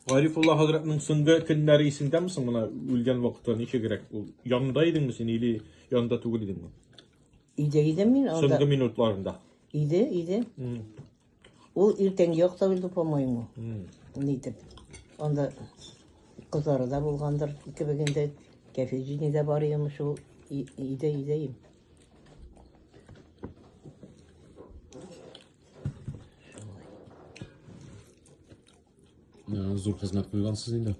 Гарифулла хәзрәтнең соңгы көннәре исендәме соң менә үлгән вакытта ничегрәк ул янында идеңме син или янында түгел идеңме? Иде иде мин анда. Соңгы минутларында. Иде, иде. Ул иртән якта үлде, по-моему. Нитеп. Анда кызлары да булгандыр, икебегендә. Кәфеҗини дә бар иде шул. Иде, иде. Зур хезмәт куйгансыз инде.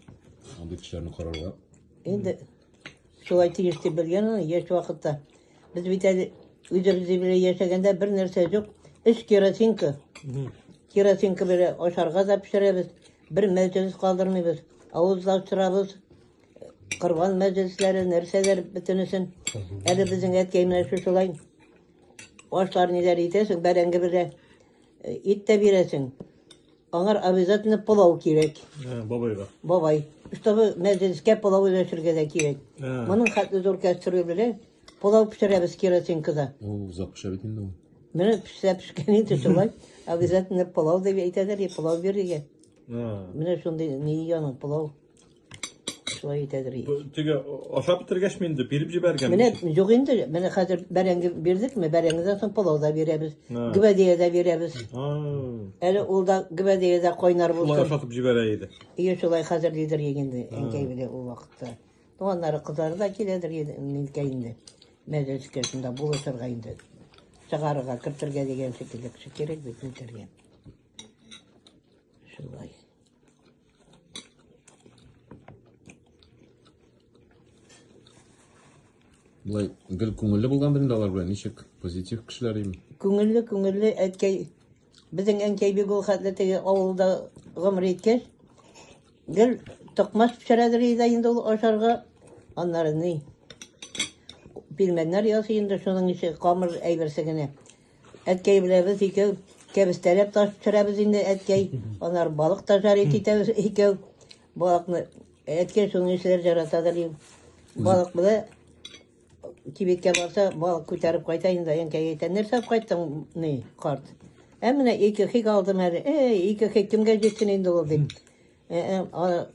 Андый кешеләрне карарга. Инде шулай тиеш дип белгән аны яшь вакытта. Без бит әле үзебез белән яшәгәндә бер нәрсә юк. Өч керосинка. Керосинка белән ашарга да пешерәбез. Бер мәҗлес калдырмыйбыз. Авыз да ачырабыз. Корбан мәҗлесләре, нәрсәләр бөтенесен. Әле безнең әткәй менә шушылай ашлар ниләр итәсең, бәрәңге белән ит тә бирәсең. Аңар обязательно пылау кирәк. Ә, бабайга. Бабай. Чтобы мәҗлескә пылау өләшергә дә кирәк. Ә. Моның хәтле зур кәстрюль белән пылау пешерәбез керосинкада. О, озак пешә бит инде ул. Менә пешә пешкән инде шулай. Обязательно пылау дип әйтәләр, и пылау бирергә. А. Менә шундый ни яның пылау. Шулай итәдер. Теге ашап бетергәч мин инде биреп җибәргән. Менә юк инде. Менә хәзер бәрәңге бирдекме? Бәрәңгедән соң пылау да бирәбез. Гөбәдия дә бирәбез. Әле ул да гөбәдия дә кайнар булсын. Шулай ашатып җибәрә иде. Ие, шулай хәзер дидер инде. Әнкәй белә ул вакытта. Туганнары кызлары да киләдер инде. Минкә инде. Мәҗәс кешендә булышырга инде. Чыгарырга, кертергә дигән шикелле кеше кирәк бит, кертергә. Шулай. Былай гел күңелле булган белән алар белән ничек позитив кешеләр ими. Күңелле, күңелле әткәй. Безнең әнкәй бик ул хәтле теге авылда гомер иткәч, гел токмас пешерәдер иде инде ул ашарга. Аннары ни? Пилмәннәр ясый инде шуның ише камыр әйберсе генә. Әткәй белән без икәү кәбестәләп таш төшерәбез инде, әткәй. Анар балык та жарит итәбез икәү. Балыкны әткәй шуны эшләр жарата да дим. Балык белән кибеткә барса, балык күтәреп кайта инде, әнкәй әйтә, нәрсә кайттың, ни, карт. Ә менә ике хик алдым әле. Эй, ике хик кемгә җитсен инде ул дип. Э, э,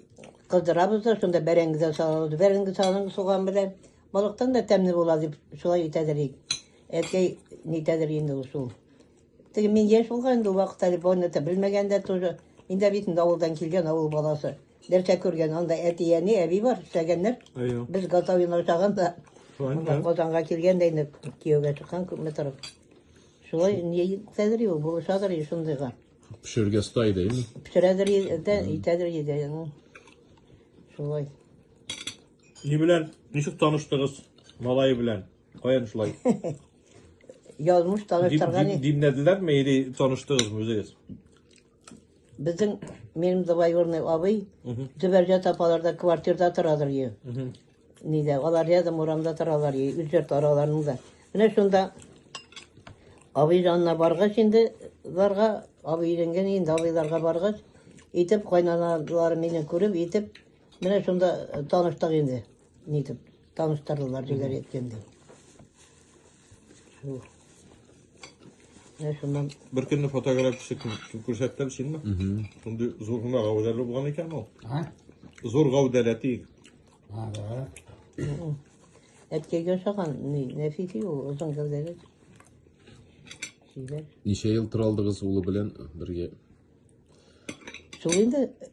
кыздырабыз да, шунда бәрәңге дә салабыз. Бәрәңге салың суган белән балыктан да тәмле була дип шулай әйтәдер ик. Әткәй нитәдер инде ул шул. Теге мин яшь булган инде вакыт әле баны да белмәгән дә тоже. Инде бит инде авылдан килгән авыл баласы. Нәрсә күргән, анда әти, әни, әби бар, эшләгәннәр. Әйе. Без готовин ашаган да. Шулай Анда да. Казанга килгән дә инде кияүгә чыккан күпме торып. Шулай нитәдер ул булышадыр и шундыйга. Пешерергә оста иде, әйеме? Пешерәдер и- дә, итәдер иде. ну. Шулай. Ни белән, ничек таныштыгыз малае белән? Каян шулай? Язмыш Дип- таныштырган дип- иде. Димләделәрме или таныштыгызмы үзегез? Безнең минем двоюродный абый Мгм. Зөбәрҗә тапаларда квартирда торадыр ие. Мгм. Нидә, алар рядом урамда торалар ие, үз йорт араларының да. Менә шунда абый янына баргач инде, ларга, абый өйләнгән инде, абыйларга баргач, итеп, кайнаналары мине күреп, итеп, менә шунда э, таныштык инде, нитеп. Таныштырдылар дигәр әйткәндә. Шул. Менә шуннан Бер көнне фотография төшеп күрсәттем синме? Шундый зур гына гәүдәле булган икән ул. А? Зур гәүдәле тиек. А, да. әткәйгә ошаган ни, нәфиси ул, озын гәүдәле. Сөйләр. Ничә ел тора алдыгыз улы белән бергә? Шул инде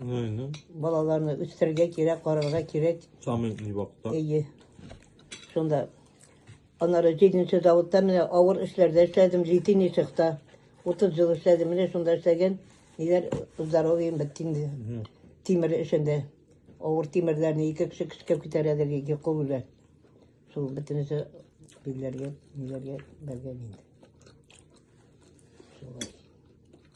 Балаларны үстерергә кирәк, карарга кирәк. Самый вакытта. Әйе. Шунда анары җиденче заводта менә авыр эшләрдә эшләдем, җитен ишекта. 30 ел эшләдем, менә шунда эшләгән. Ниләр здоровьем бетте инде. Тимер эшендә. Авыр тимерләрне ике кеше көчкәп күтәрәдер, ике кул белән. Шул бөтенесе билләргә, ниләргә бәргән инде. Шулай.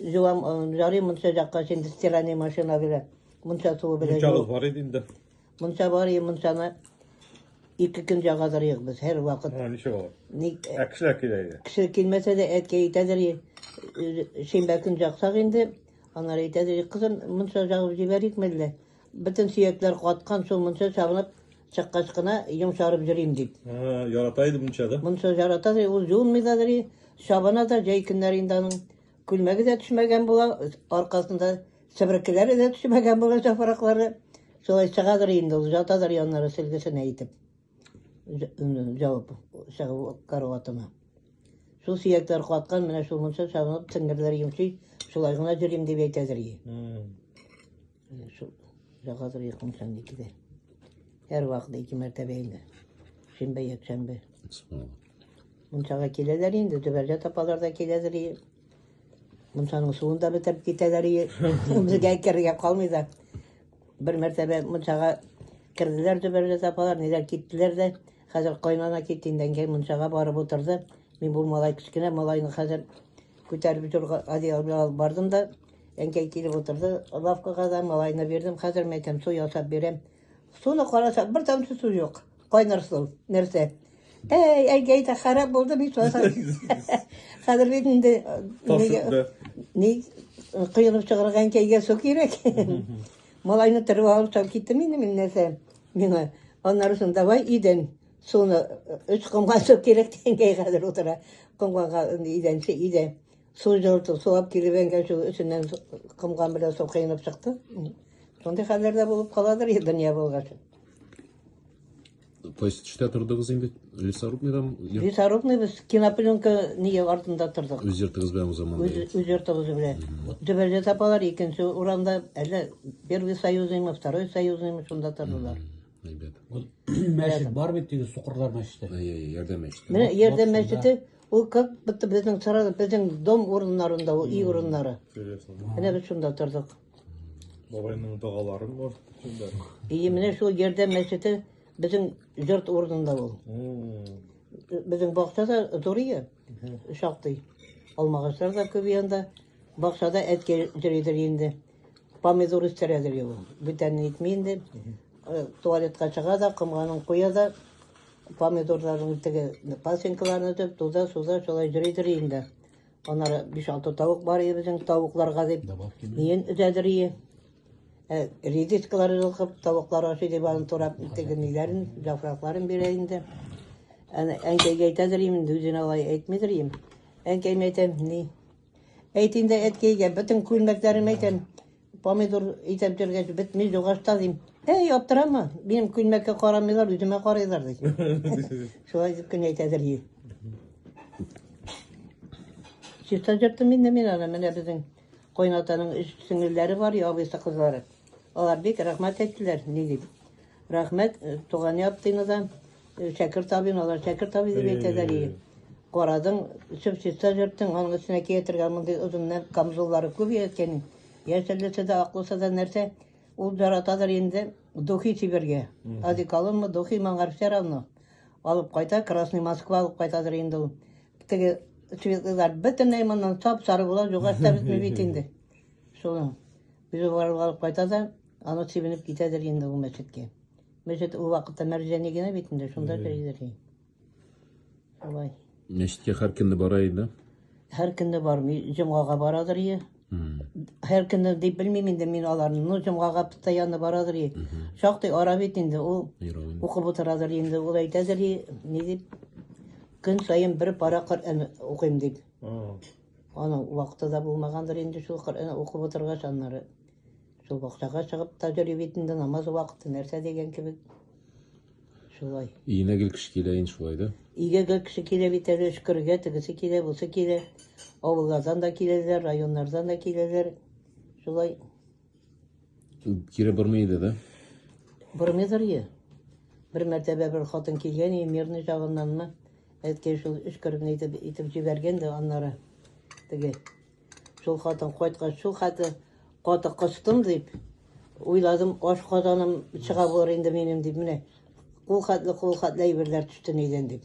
Җылам, ярый монча җакка инде стиральный машина белән. Монча суы белән. Монча бар иде инде. Монча бар и мончаны ике көн җагадыр юк без һәр вакыт. Һәм ничек алар? Ник? Ә кешеләр килә иде. Кеше килмәсә дә әткәй әйтәдер, шимбә көн җаксак инде, анар әйтәдер, кызым, монча җагып җибәрик мәллә. Бөтен сөякләр каткан, шул мунча чабынып чыккач кына йомшарып йөрим дип. Ә, ярата иде мунча да. Мунча ярата ди, ул юынмый да ди, чабына да җәй көннәре инде аның күлмәге дә төшмәгән була, аркасында себеркеләре дә төшмәгән була җафраклары. Шулай чыгадыр инде ул, ятадыр яннары селгесенә итеп. Ж- м, Җавап чыгып караватына. Шул сөякләр каткан, менә шул мунча чабынып теңгерләр йомшый, шулай гына йөрим дип әйтәдер. ие. М. Менә шул ягадыр йокым сәнде киде. Һәр вакыт ике мәртәбә инде. Шимбә, якшәмбе. Мунчага киләләр инде, төбәргә тапалар да киләләр. и. Мунчаның суын да бетереп китәләр. и. Безгә керергә калмый да. Бер мәртәбә мунчага керделәр төбәргә тапалар, ниләр киттеләр дә. Хәзер кайнана китте инде, әнкәй мунчага барып утырды. Мин бу малай кечкенә малайны хәзер күтәреп торга одеял белән алып бардым да. Әнкәй килеп утырды лавкага да, малайны бирдем. Хәзер мин әйтәм, су ясап бирәм. Суны караса, бер тамчы су юк. Кайнар су, нәрсә? Әй, әнкәй дә харап булды бит озак. Хәзер бит инде э, Ташытты. ни коелып чыгарга әнкәйгә су кирәк. Малайны тырып алып чыгып киттем инде мин нәрсә. Миңа аннары соң давай идән суны өч комган су кирәк дигәнгә хәзер утыра. Комганга идәнче идән. Су җылытып, сулап килеп әнгән шул эченнән комган белән су кыйнып чыкты. Шундый хәлләрдә булып каладыр и дөнья булгач. То есть төштә тордыгыз инде лесорубныйда? Лесорубный без кинопленка ние артында тордык. Үз йортыгыз белән уза монда. Үз, үз йортыбыз белән. Төбәлдә тапалар, икенче урамда, әллә первый союзнымы, второй союзнымы, шунда тордылар. Әйбәт. Мәчет бар бит теге сукырлар мәчете. Әй, әй, ярдәм мәчете. Менә ярдәм мәчете Ул как будто безнең сарай, безнең дом урыннарында ул, ий урыннары. Серьезно. Менә без шунда тордык. Бабайның догалары бар. Шунда. И менә шул ярдәм мәчете безнең йорт урынында ул. М, Безнең бакча да зур ие, шактый. Алмагачлар да күп янда. Бакчада әткәй йөридер инде. Помидор үстерә ди ул. Бүтән әйтми инде. Э, туалетка чыга да, комганын куя да, помидорларның теге пасенкаларын өтеп, туза, суза, шулай җөри-җөри инде. Аннары 5-6 тавык бар иде безнең тавыкларга дип. Ниен өтәдер ие. Э, редискалар җылкып, тавыклар ашый дип аны турап, теге ниләрен, җафракларын бирә инде. Әнкәйгә әйтәдер инде, үзенә алай әйтмидер инде. Әнкәйме әйтәм, ни, Әйт инде әткәйгә, бөтен күлмәкләрем әйтәм, помидор итеп йөргәч, бетми дугашта дим. Әй, аптырама, минем күлмәккә карамыйлар, үземә карыйлар ди. Шулай дип кенә әйтәдер ди. Чиста җырттым инде мин аны, менә безнең кайнатаның өч сеңелләре бар, ябыйсы кызлары. Алар бик рәхмәт әйттеләр, ни дип. Рәхмәт, туган яптыйны да, шәкерт абыйны, алар шәкерт абый дип әйтәләр и. Карадың, сөп чиста җырттың, аның өстенә киятергә мондый озыннан камзуллары күп яткәнең. Яшәлесе дә, аклысы да нәрсә, ул яратадыр инде духи сибергә. Одеколонмы, духи моңар все равно. Алып кайта, Красный Москва алып кайтадыр инде ул. Теге светлыйлар бөтенләй моннан сап-сары була, югары да бетми бит инде. Шуның. Үзе барып алып кайта да, аны сибенеп китәдер инде ул мәчеткә. Мәчет ул вакытта мәрҗәни генә бит инде, шунда керидер. Шулай. Мәчеткә һәр көнне бара иде. Һәр көнне бармый, җомгага барадыр ие. Һәр көнне дип белмим инде мин аларны, но җомгага постоянно барадыр ие. Шактый ара бит инде ул. Укып утырадыр инде, ул әйтәдер ие, ни дип. Көн саен бер пара Коръән укыйм дип. Аның вакыты да булмагандыр инде шул Коръән укып утыргач, аннары шул бакчага чыгып таҗри бит инде намаз вакыты нәрсә дигән кебек. Шулай. Өенә гел кеше килә инде шулай да. Өйгә гел кеше килә бит әле өшкергә тегесе килә, бусы килә. Авыллардан да киләләр, районнардан да киләләр. Шулай. Кире бормый иде да? Бормыйдыр е. Бер мәртәбә бер хатын килгән и мирный җагыннанмы? Әткәй шул өшкереп итеп итеп җибәргән дә аннары теге. Шул хатын кайткач, шул хәтле каты кыстым дип уйладым, аш казаным чыга булыр инде минем дип менә. Кул хәтле кул хәтле әйберләр төште нидән дип.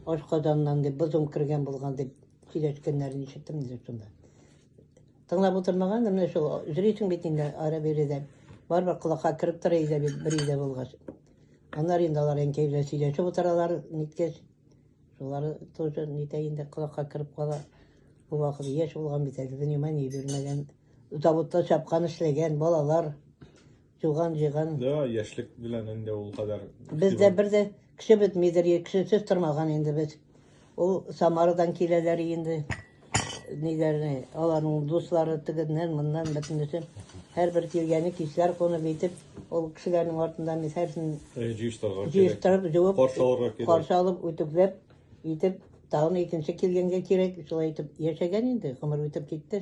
Аш казаннан дип, бозым кергән булган дип сөйләшкәннәрен ишеттем инде шунда. Тыңлап утырмаган, менә шул җөрисең бит инде ара биредән. Барбар колакка кереп тора иде бит бер өйдә булгач. Аннары инде алар әнкәй белән сөйләшеп утыралар, ниткәч. Шулар тоже нитә инде колакка кереп кала. Бу вакыт яшь булган бит әле, внимание бирмәгән. Заводта чапкан эшләгән балалар. Туган җиган. Да, яшьлек белән инде ул кадәр. Бездә бер дә кеше бетмидер, кешесез тормаган инде без. Ул Самарадан киләләр инде. Ниләрне, аларның дуслары тегеннән, моннан бөтенесе. Һәрбер килгәне кичләр кунып итеп, ул кешеләрнең артында мин һәрсен җыештырырга кирәк. Җыештырып, җуып, каршы алырга кирәк. Каршы алып, үтүкләп итеп, тагын икенче килгәнгә кирәк. Шулай итеп яшәгән инде, гомер үтеп китте.